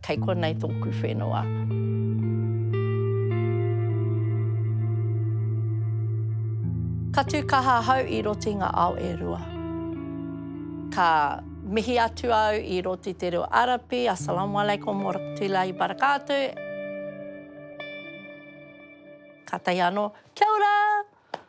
Kei konei tōku whenua. Ka tū kaha ahau i roti ngā ao e rua. Ka mihi atu au i roti te reo Arapi, Assalamu alaikum wa rahmatullahi wa barakatuh. Ka tahi anō, kia ora!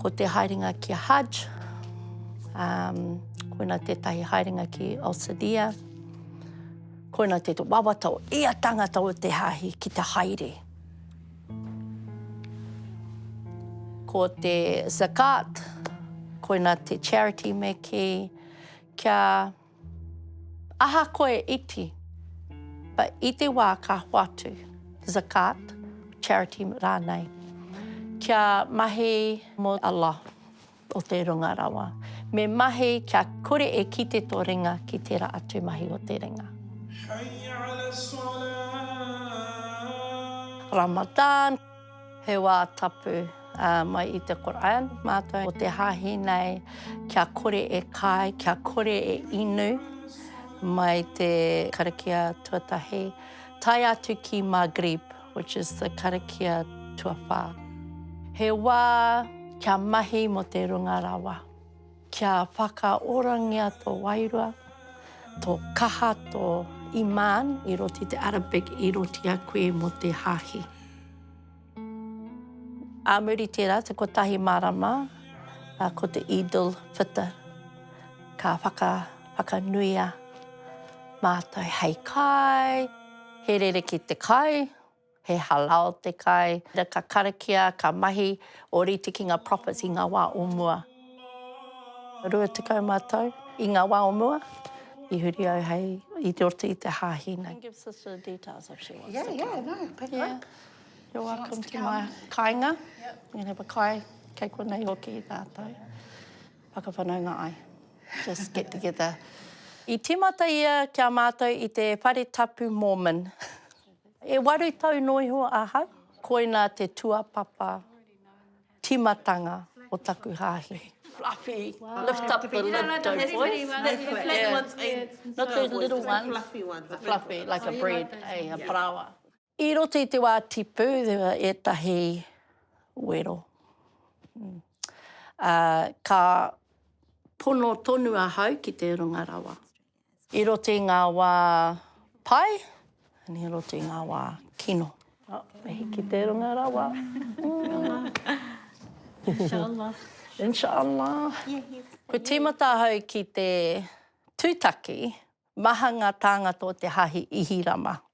Ko te haerenga ki a Haj, um, koina tētahi haerenga ki Alsadia, koina te wawata o ia tangata o te hāhi ki te haere. Ko te zakat, koina te charity me ki kia Ahakoa e iti, but i te wā ka hoatu, Zakat, charity rānei, kia mahi mō Allah, o te Runga Rawa, me mahi kia kore e kite tō ringa ki tērā atu mahi o te ringa. Hayya 'ala as-salah. Ramadan. He wā tapu mai i te Koran mātou o te hāhi nei kia kore e kai, kia kore e inu mai te karakia tuatahi tae atu ki Maghrib, which is the karakia tuawhā. He wā kia mahi mō te runga rawa. Kia whakaorangia tō wairua, tō kaha, tō imān. I roti te Arabic, i roti a koe mō te Hāhi. Ā muri tērā, te kotahi marama, ko te Eid al-Fitr, ka whaka, whakanuia mātou hei kai, he rerekē te kai. He halau te kai. Ka karakia, ka mahi ōrite ki ngā prophets i ngā wā o mua. Rua tekau mā tau i ngā wā o mua i huri au hei, i roto i te hāhi nei. Give sister the details if she wants to come. Yeah, yeah, no, pick her up. You're welcome to my kāinga. You can have a kai kei konei hoki tātou. Whakawhanaunga ai. Just get together. I tīmata ia ki a mātou i te whare tapu Mormon. E waru tau noa iho ahau, koina te tuapapa timatanga o taku hahi. Fluffy, lift up the lid, don't voice. Not the little ones, the fluffy, like a bread, a paraoa. I roto i te wā tipu, there were ētahi wero. Ka pono tonu ahau ki te runga rawa. I roto i ngā wā pai, and i roto i ngā wā kino. Oh, me hiki te runga rawa. Inshallah. Inshallah. Kua tīmata ahau ki te tūtaki, maha ngā tāngata o te Hāhi Ihirama.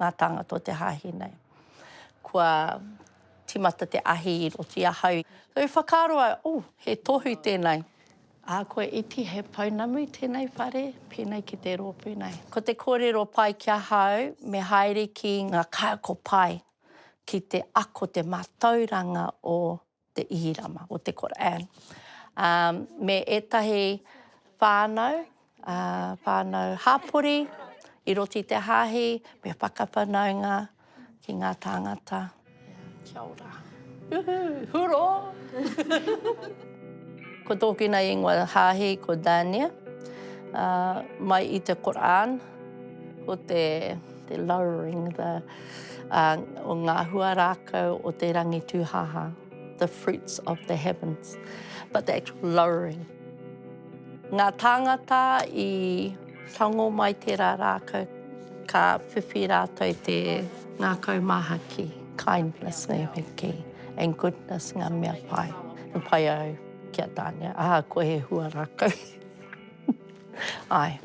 ngā tāngata o te hāhi nei. Kua tīmata te ahi i roto i ahau. I whakaaro au, oh, he tohu tēnei. Ā, kua iti he pounamu i tēnei whare, pēnei ki te rōpū nei. Ko te kōrero pai ki ahau, me haere ki ngā kaiako pai ki te ako, te mātauranga o te Ihirama, o te Koran, ā, me ētahi whānau, ā, whānau hapori i roto i te hāhi, me whakawhanaunga ki ngā tāngata. Kia ora. Uhu! Hurō! Ko tōku nā ingoa hāhi ko Dania, ā, mai i te Koran, ko te, te lowering, the. ā, o ngā hua rākau o te rangi tūhāhā, the fruits of the heavens, but the actual lowering. Ngā tāngata i tango mai tērā rākau, ka whiwhi rātou te ngākau māhaki, kindness ngā mea kē, and goodness ngā mea pai. He pai au ki a Tāne, ahakoa he hua rākau. Āe.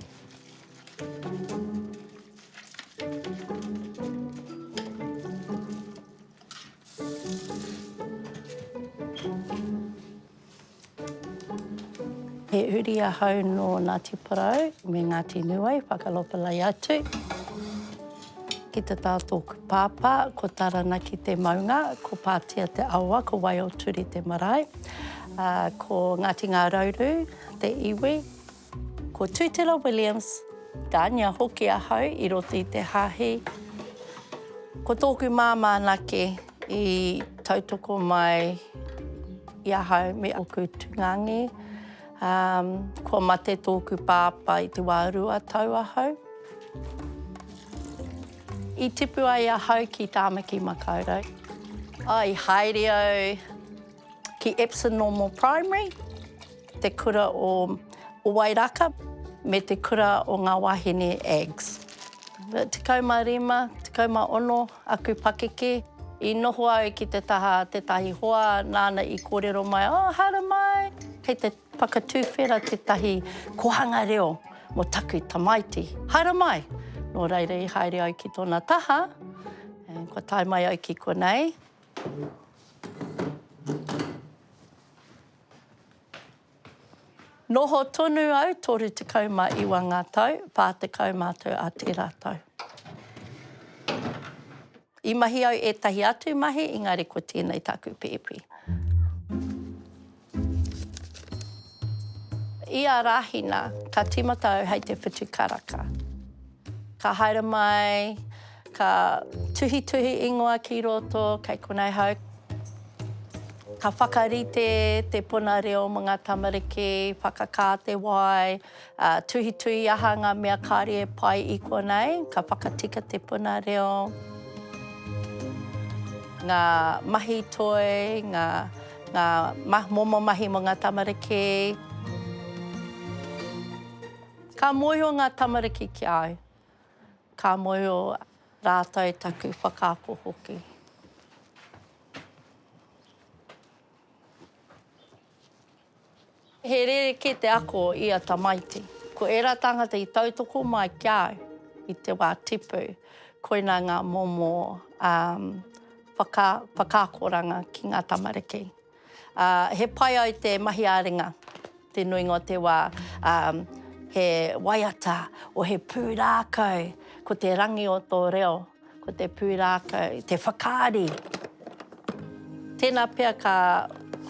He uri ahau nō Ngāti Porou me Ngāti Nūai, Whakalopelai atu. Ki te tā tōku pāpā, ko Taranaki te maunga, ko Pātea te awa, ko Waioturi te marae. Ko Ngāti Ngārauru te iwi, Ko Tutela Williams, Tania hoki ahau i roto i te Hāhi. Ko tōku māmā anake i tautoko mai i ahau me ōku tūngangi. Um, kua mate tōku pāpā i te wā rua tau ahau. I tipu ai ahau ki Tāmaki Makaurau. Oh, i haere au Ki Epsom Normal Primary, te kura o Wairaka me te kura o Ngā Wāhine Ags. Tekau mā rima, tekau mā ono aku pakeke i noho ai ki te taha a tētahi hoa nāna i kōrero mai, oh, haere mai! Kei te whakatūwhera tētahi kōhanga reo mō taku tamaiti. Haere mai! Nō reira i haere au ki tōna taha, kua tae mai au ki konei. Noho tonu au, 39 ngā tau, 40 mātou a tērā tau. I mahi au ētahi atu mahi, engari ko tēnei taku pēpi. Ia Rahina, ka timata au hei te whutu karaka. Ka haere mai, ka tuhituhi ingoa ki roto, kei konei hau. Ka whakarite te puna reo mo nga tamariki, whakakā te wai. Ā, tuhituhi aha ngā mea kāre e pai i konei, ka whakatika te puna reo, ngā mahi toi, ngā, ngā ma, momo mahi mō ngā tamariki. Ka mōhio ngā tamariki ki a au. Ka mōhio rātou taku whakaako hoki. He rerekē te ako o ia tamaiti. Ko ērā tāngata i tautoko mai ki a au i te wā tipu, koinā ngā momo whakaakoranga ki ngā tamariki. He pai ai te mahi ā-ringa te nuinga o te wā, he waiata, o he pūrākau, ko te rangi o tō reo. Ko te pūrākau, te whakaari. Tēnā pea ka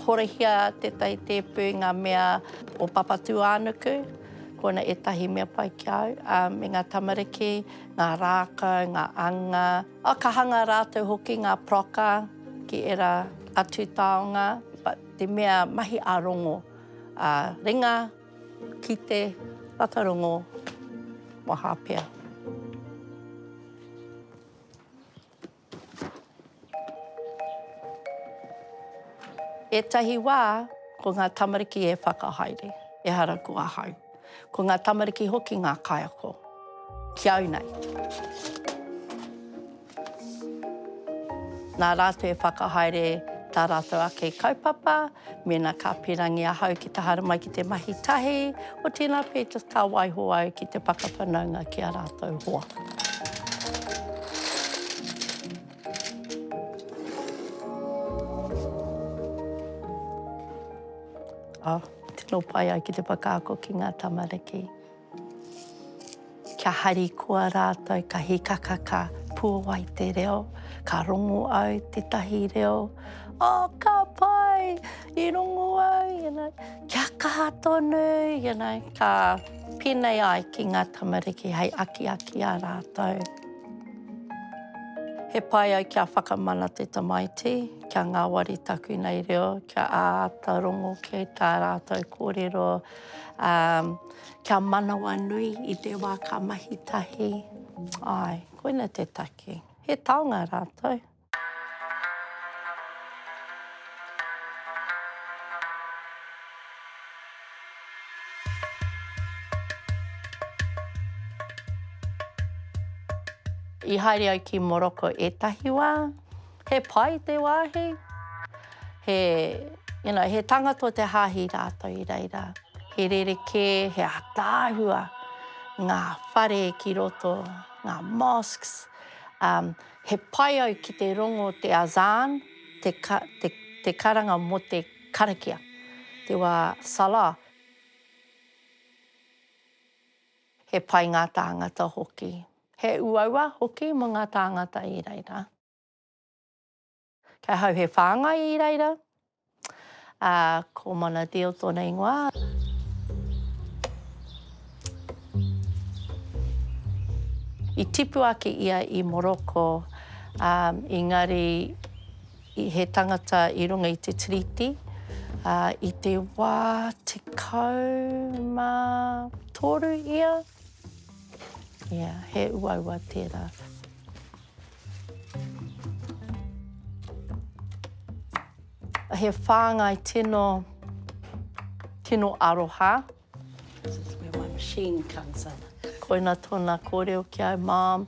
horahia tētahi tēpu i ngā mea o Papatūānuku, ko ōna ētahi mea pai ki a au, ā, me ngā tamariki, ngā rākau, ngā anga. Ā, ka hanga rātou hoki ngā paroka ki ērā atu taonga, but te mea mahi ā-rongo, ā, ringa. Ki te whakarongo maha pea. Ētahi wā, ko ngā tamariki e whakahaere, ehara ko ahau. Ko ngā tamariki hoki ngā kaiako, ki au nei. Nā rātou e whakahaere tā rātou ake kaupapa, mēnā ka pērangi ahau ki te haere mai ki te mahi tahi, otirā nā Peeters ka waiho au ki te whakawhanaunga ki ā rātou hoa. Tino pai au ki te whakaako ki ngā tamariki. Kia harikoa rātou ka hikaka ka puawai te reo, ka rongo au tētahi reo, Oh, ka pai! I rongo au, you know, kia kaha tonu, you know, ka pēnei ai ki ngā tamariki hei akiaki a rātou. He pai au kia whakamana te tamaiti, kia ngāwari taku nei reo, kia āta rongo kē tā rātou kōrero, Ā, kia manawanui i te wā ka mahi tahi. Āe, koina te take. He taonga rātou. I haere au ki Moroko ētahi wā. He pai te wāhi, he, you know, he tangata o te hāhi rātou i reira. He rerekē, he ataahua ngā whare ki roto, ngā mosques. Um, he pai au ki te rongo te azan, te, ka, te, te karanga mō te karakia, te wā salah. He pai ngā tāngata hoki. He uaua hoki mō ngā tāngata i reira. Kei ahau he whāngai i reira. Ā, ko Mana Diehl tōna ingoa. I tipu ake ia i Morocco, ā, engari i he tangata i runga i te Tiriti, ā, i te wā tekau mā toru ia. Ia, he uaua tērā. He whāngai tino, tino aroha. This is where my machine comes in. Koina tōna kōrero ki au, Mom.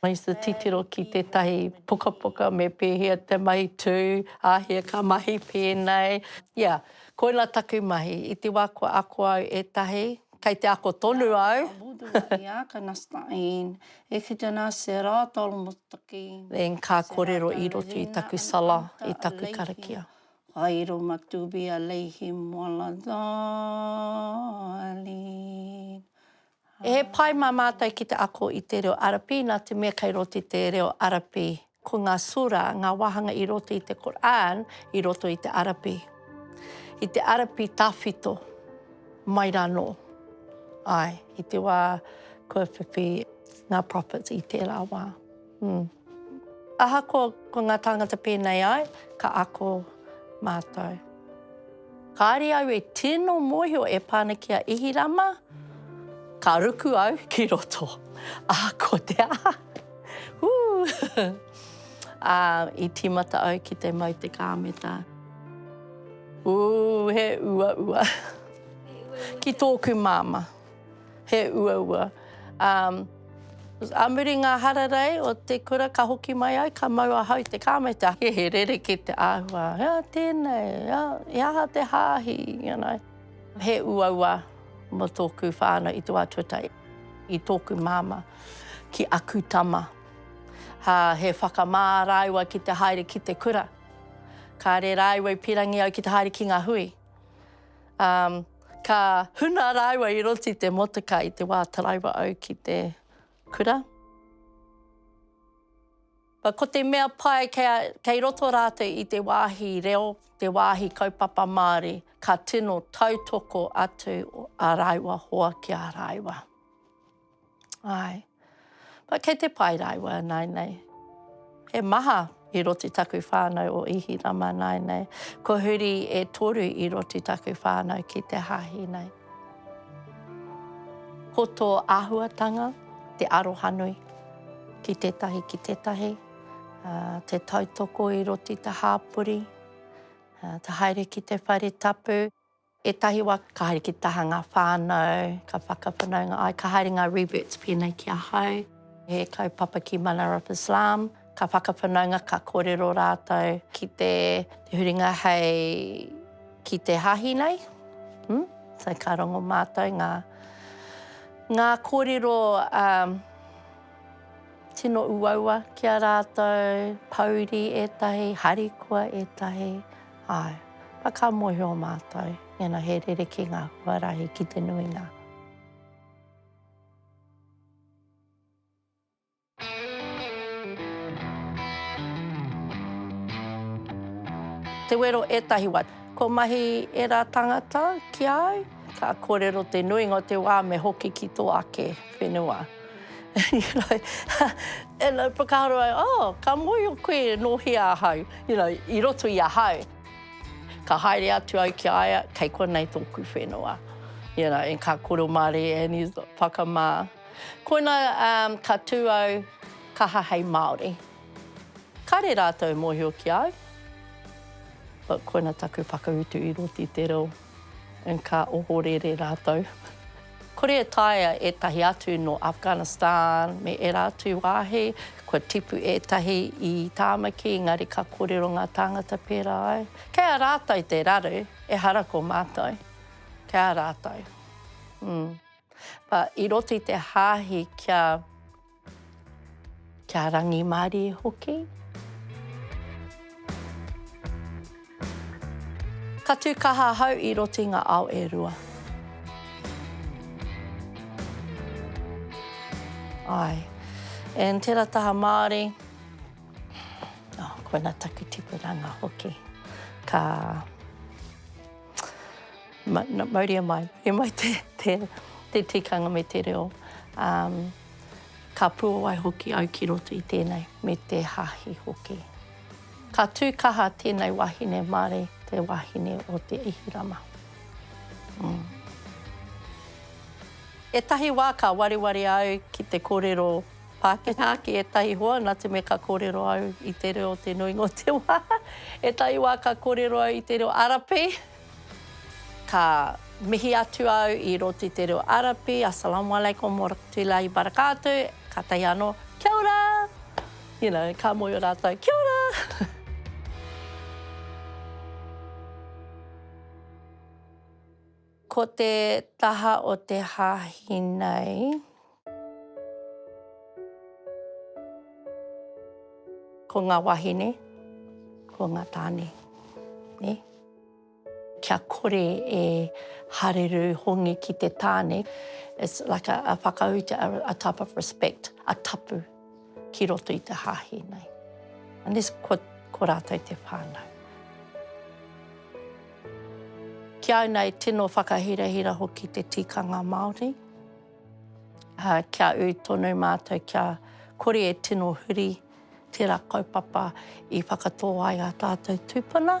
Mai te titiro ki tētahi pukapuka me pēhea te mahi tū, āhea ka mahi pēnei. Ia, koina taku mahi. I te wā kua ako au e tahi, kei te ako tonu au. Nā, ka mutu a ia, ka nasta in, e ki te nase rā, ta almost took in. Then ka kōrero i roto i taku sala, i taku karakia. Ka iro ma tū be a lei him while I dial in. He pai mā mātou ki te ako i te reo Arapi nā te mea kei roto i te reo Arapi. Ko ngā Surah, ngā wāhanga i roto i te Kur'an, i roto i te Arapi. I te Arapi tawhito, mai rānō. Āe, i te wā kua whiwhi ngā Prophets i tērā wā. Ahakoa ko ngā tāngata pēnei ai, ka ako mātou. Kāre au e tino mōhio e pā ana ki a Ihirama, ka ruku au ki roto. Ahakoa te aha, hū! Ā, i tīmata au ki te mau te kāmeta. Ū, he uaua ki tōku māmā. he uaua. Ā, ā muri ngā hararei o te kura ka hoki mai ai, ka mau ahau i te kāmeta. He, he rerekē te āhua, ā, tēnei, ā, he aha te hāhi, you know. He uaua mō tōku whānau i te wā tuatahi, i tōku māmā ki aku tama. Ā, he whakamā rāua ki te haere ki te kura. Kāre rāua i pīrangi au ki te haere ki ngā hui. Um, ka huna rāua i roti te motuka i te wā taraiwa au ki te kura. Ba, ko te mea pai, kei, kei roto rātou i te wāhi reo, te wāhi kaupapa Māori, ka tino tautoko atu a rāua hoa ki a rāua. Ae. But kei te pai rāua nāinei. He maha i roti taku whānau o Ihirama nāinei. Ko huri e toru i roti taku whānau ki te hāhi nei. Ko tō āhuatanga te arohanui ki tētahi ki tētahi, uh, te tautoko i roti te hāpori, uh, te haere ki te whare tapu. Ētahi wā ka haere ki te taha ngā whānau, ka whakawhanaunga ai, ka haere ngā reverts pēnei ki ahau, he kaupapa ki Manar of Islam, ka whakawhanaunga, ka kōrero rātou ki te huringa hei ki te hāhi nei. Hmm? So ka rongo mātou ngā, ngā kōrero um, tino uaua ki a rātou, pouri ētahi, harikoa ētahi, Āe, na ka mōhio mātou, mēnā he rerekē ngā huarahi ki te nuinga. Te wero ētahi wā. Kua mahi ērā tāngata ki a au, ka kōrero te nuinga o te wā me hoki ki tō ake whenua. you know, and I whakaaro ai, oh, ka mōhio koe e nōhia ahau, you know, i roto i ahau. Ka haere atu au ki a ia, kei konei tōku whenua, you know, and ka koro mārie and he's like, whakamā. Koina um, ka tū au kaha hei Māori. Kāre rātou mōhio ki au, but koina taku whakautu i roti te reo. and ka ohorere rātou. Kore e taea ētahi atu nō Afghanistan me ērā atu wāhi, kua tipu ētahi i Tāmaki, engari ka kōrero ngā tāngata pērā ai. Kei a rātou te raru, ehara ko mātou. Kei a rātou. But i roto i te hāhi kia. Kia rangimārie hoki. Ka tū kaha ahau i roto i ngā ao e rua. Āe. And tērā taha Māori, oh, koina taku tipuranga hoki. Ka... Ma, na, mauria mai, mauria mai te, te, te tikanga me te reo. Um, Ka puawai hoki au ki roto i tēnei, me te Hāhi hoki. Ka tū kaha tēnei wahine māre te wahine o Te Ihirama. Mm. Etahi wā ka wareware au ki te korero Pākehā ki etahi hoa, nā te mea ka korero au i te reo te nuinga o te wā. Etahi wā ka korero au i te reo Arapi. Ka mihi atu au i Roti Te Reo Arapi, Assalamualaikum Warahmatullahi Wabarakatuh, kātahi anō, Kia ora! You know, ka mōhio rātou, Kia ora! Ko te taha o te hāhi nei. Ko ngā wāhine, ko ngā tāne, nē. Kia kore e hareru hongi ki te tāne, it's like a, a whakauta, a, a type of respect, a tapu ki roto i te hāhi nei. Unless ko, ko rātou te whānau. Ki au nei, tino whakahirahira hoki te tikanga Māori. uh, kia ui tonu mātou, kia kore e tino huri tērā kaupapa i whakatō ai a tātou tūpuna.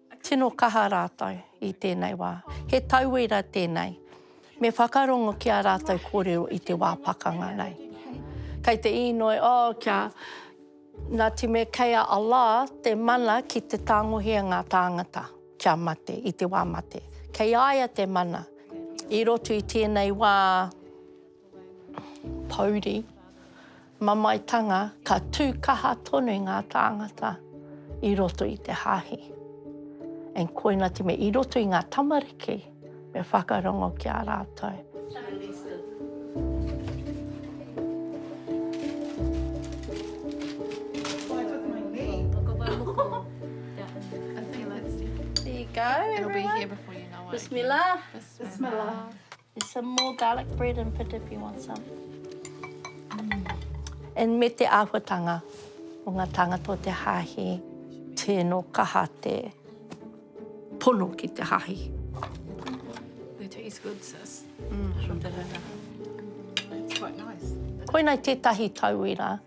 Tino kaha rātou i tēnei wā. He tauira tēnei. Me whakarongo ki ā rātou kōrero i te wā pakanga nei. Kei te īnoi, oh, kia Ngāti me kei a Allah te mana ki te tāngohia ngā tāngata kia mate, i te wā mate. Kei a ia te mana. I roto i tēnei wā. Pouri, mamaetanga, ka tū kaha tonu ngā tāngata i roto i te hāhi. And koina te mea, i roto i ngā tamariki, me whakarongo ki a rātou. There you go, everyone. It'll be here before you know it. Bismillah. Bismillah. There's some more garlic bread and pita if you want some. And me te āhuatanga o ngā tāngata o te Hāhi, tēnō kaha te pono ki te Hāhi. They taste good, sis. Mm. That's quite nice. Koinei tētahi tauira.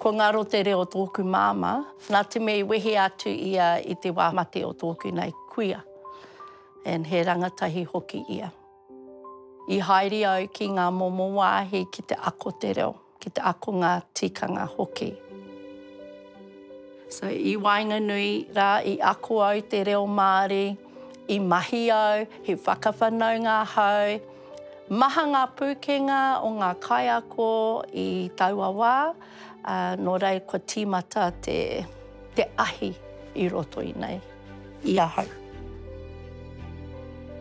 Ko Ngaro te reo o tōku māmā, nā te mea i wehe atu ia i te wā mate o tōku nai kuia, and he rangatahi hoki ia. I haere au ki ngā momo wāhi ki te ako te reo. ki te akonga tikanga hoki. So i waenganui rā i ako au te reo Māori, i mahi au, he whakawhanaunga ahau. Maha ngā pūkenga o ngā kaiako i taua wā, nō reira kua tīmata te ahi i roto i nei. i ahau.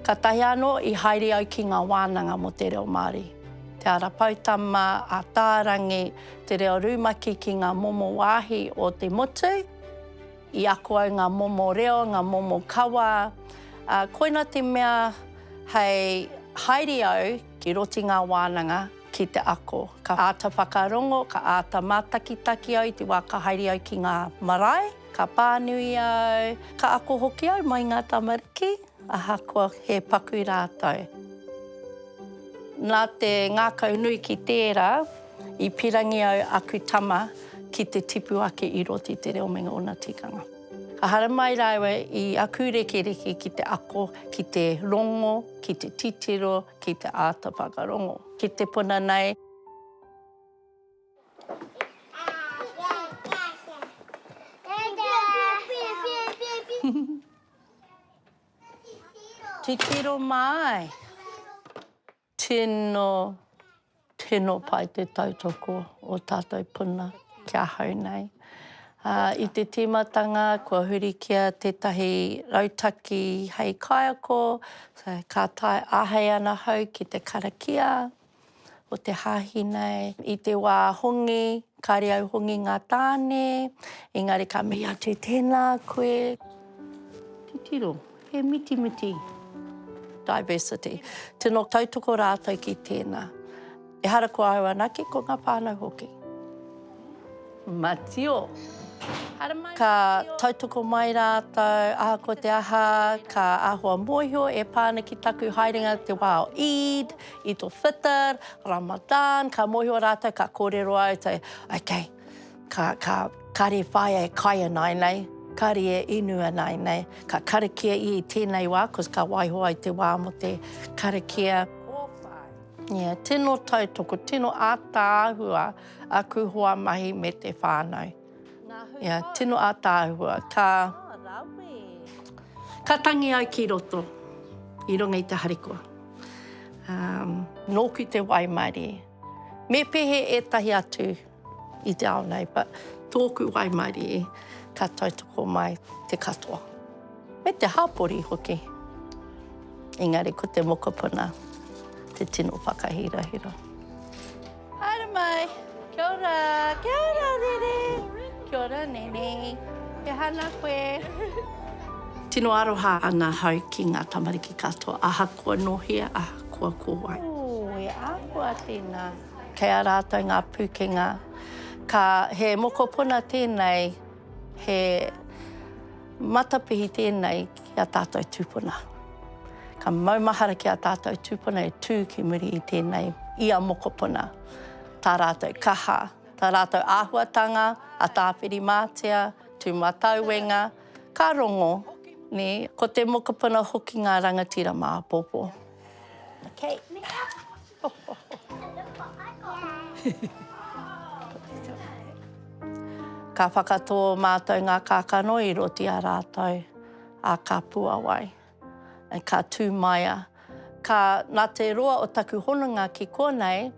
Katahi ano i haere au ki nga wananga mo te reo Maori, Te Ara Poutama, Ataarangi, Te Reo Rumaki ki nga momo wahi o te motu, i ako au nga momo reo, nga momo kawa, a koina te mea hei haere au ki roti nga wananga ki te ako. Ka ata whakarongo, ka ata matakitaki au i te wa ka haere au ki nga marae. Ka pānui au, ka ako hoki au mai ngā tamariki, ahakoa he paku rātou. Nā te ngākau nui ki tērā, i pirangi au aku tama ki te tipu ake i roti te reo me ngōna tikanga. Ka haramai rāua i aku rekereke ki te ako, ki te rongo, ki te titiro, ki te āta whakarongo. Ki te puna nei. Titiro mai. Tino, tino pai te tautoko o tatou puna ki ahau nei. I te timatanga kua huri kia tetahi rautaki hei kaiako, ka tae ahei ana hau ki te karakia. o te hāhi nei. I te wā hongi, kāre au hongi ngā tāne, engari ka mihi atu tēnā koe. Titiro, he mitimiti. Diversity. Tino tautoko rātou ki tēnā. Ehara ko au anake, ko ngā whānau hoki. Matio. Ka tautoko mai rātou, ahakoa te aha, ka āhua mōhio e pā ana ki taku haerenga te wā o Eid, Eid al-Fitr, Ramadan, ka mōhio rātou, ka kōrero au, okay, kāre e whāia e kai ana ai nei, kāre e inu ana ai nei, ka karakia i tēnei wā, cos ka waiho ai te wā mō te karakia. Tino tautoko, tino ātaahua. Aku hoa mahi me te whānau. Ia, tino ātaahua. Ka, ka tangi ai ki roto, i runga i te harikoa. Um. Nōku te waimarie. Me pehe ētahi atu i te ao nei, but tōku waimarie, ka tautoko mai te katoa. Me te hapori hoki. Engari ko te mokopuna te tino whakahirahira. Haere mai! Kia ora! Kia ora, Rere! Kia ora, Nene! E hana koe! Tino aroha ana hau ki nga tamariki katoa, ahakoa no hea, ahakoa ko wai. Ooh, e ahua tena! Kei a ratou nga pukenga, ka, he mokopuna tenei. He matapihi tēnei ki a tātou tūpuna. Ka maumahara ki a tātou tūpuna e tū ki muri i tēnei, i a mokopuna, tā rātou kaha, tā rātou āhuatanga, a Tāwhirimātea, Tūmatauenga, ka rongo, nē, ko te mokopuna hoki ngā rangatira mā apōpō. Okay. Ka whakatō mātou ngā kākano i roti a rātou, a ka puawai, and ka tūmaia. Ka, nā te roa o taku hononga ki konei,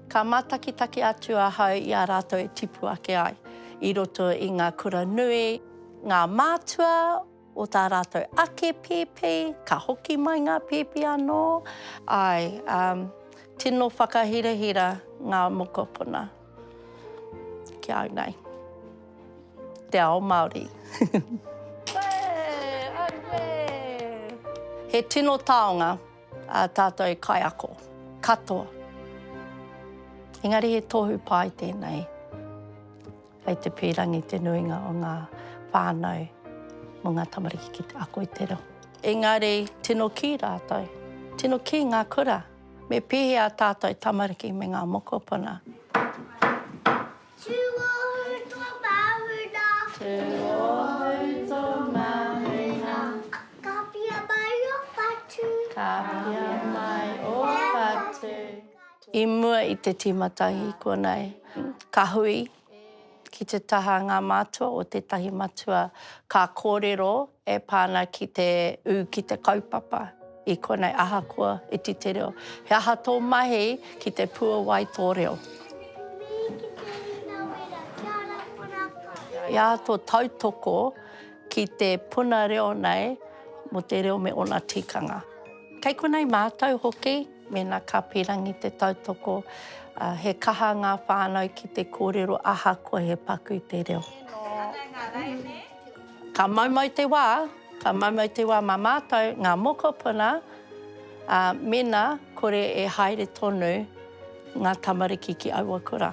ka mātakitaki atu ahau i a rātou e tipu ake ai i roto i ngā kura nui, ngā mātua, o tā rātou ake pēpi, ka hoki mai ngā pēpi anō. Āe, ā, tino whakahirahira ngā mokopuna ki au nei, te ao Māori. He tino taonga ā tātou kaiako katoa, engari he tohu pai tēnei. Kei te pīrangi te nuinga o ngā whānau mō ngā tamariki ki te ako i te reo. Engari, tino kī rātou, tino kī ngā kura, me pēhea ā tātou tamariki me ngā mokopuna. Tūohu tō māhuna. Tūohu tō māhuna. Ka pia mai ō whatu. Ka pia mai ō whatu. I mua i te tīmatahi konei, ka hui ki te taha ngā mātua o tētahi matua ka kōrero e pā ana ki te ū ki te kaupapa i konei ahakoa iti te reo. He aha tō mahi ki te puawai tō reo? He aha tō tautoko ki te puna reo nei mō te reo me ōna tikanga? Kei konei mātou hoki. Mēnā ka pīrangi te tautoko, he kaha ngā whānau ki te kōrero ahakoa he paku i te reo. Ka moumou te wā, ka moumou te wā mā mātou ngā mokopuna, mēnā kore e haere tonu ngā tamariki ki aua kura.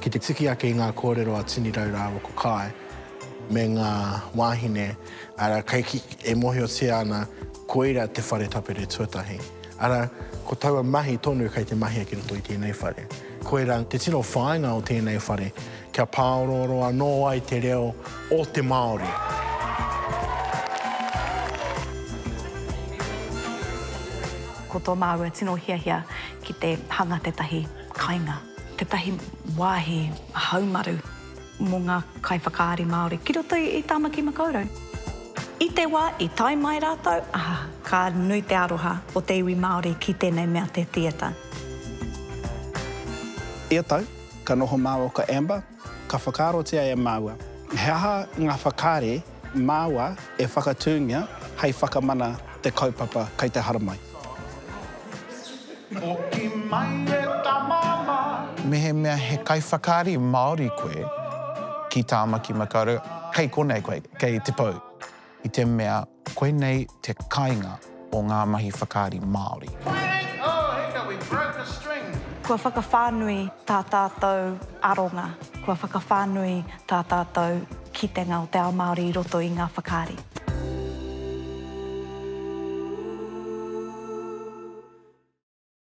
Ki te tiki ake i ngā kōrero a Tini Rau rāua ko Kae me ngā wāhine, arā, kei ki, e mōhiotia ana koira te whare tapere tuatahi. Arā, ko taua mahi tonu kei te mahia ki roto i tēnei whare. Koirā te tino whāinga o tēnei whare, kia pāorooro anō ai te reo o te Māori. Ko tō māua tino hiahia ki te hanga tētahi kainga, tētahi wāhi haumaru. mō ngā kaiwhakaari Māori ki roto i Tāmaki Makaurau. I te wā i tae mai rātou, ka nui te aroha o te iwi Māori ki tēnei mea te theatre. Ia tau, ka noho māua ko Amber, ka whakaarotia e māua, he aha ngā whakaari Māua e whakatūngia hei whakamana te kaupapa kei te haramai. Hoki mai e ta mama. Mehemea he kaiwhakaari Māori koe ki Tāmaki Makaurau, kei konei koe, kei Te Pou. I te mea koinei te kainga. o ngā mahi whakaari Māori. Kua whakawhānui tā tātou aronga, kua whakawhānui tā tātou kitenga o te ao Māori i roto i ngā whakaari.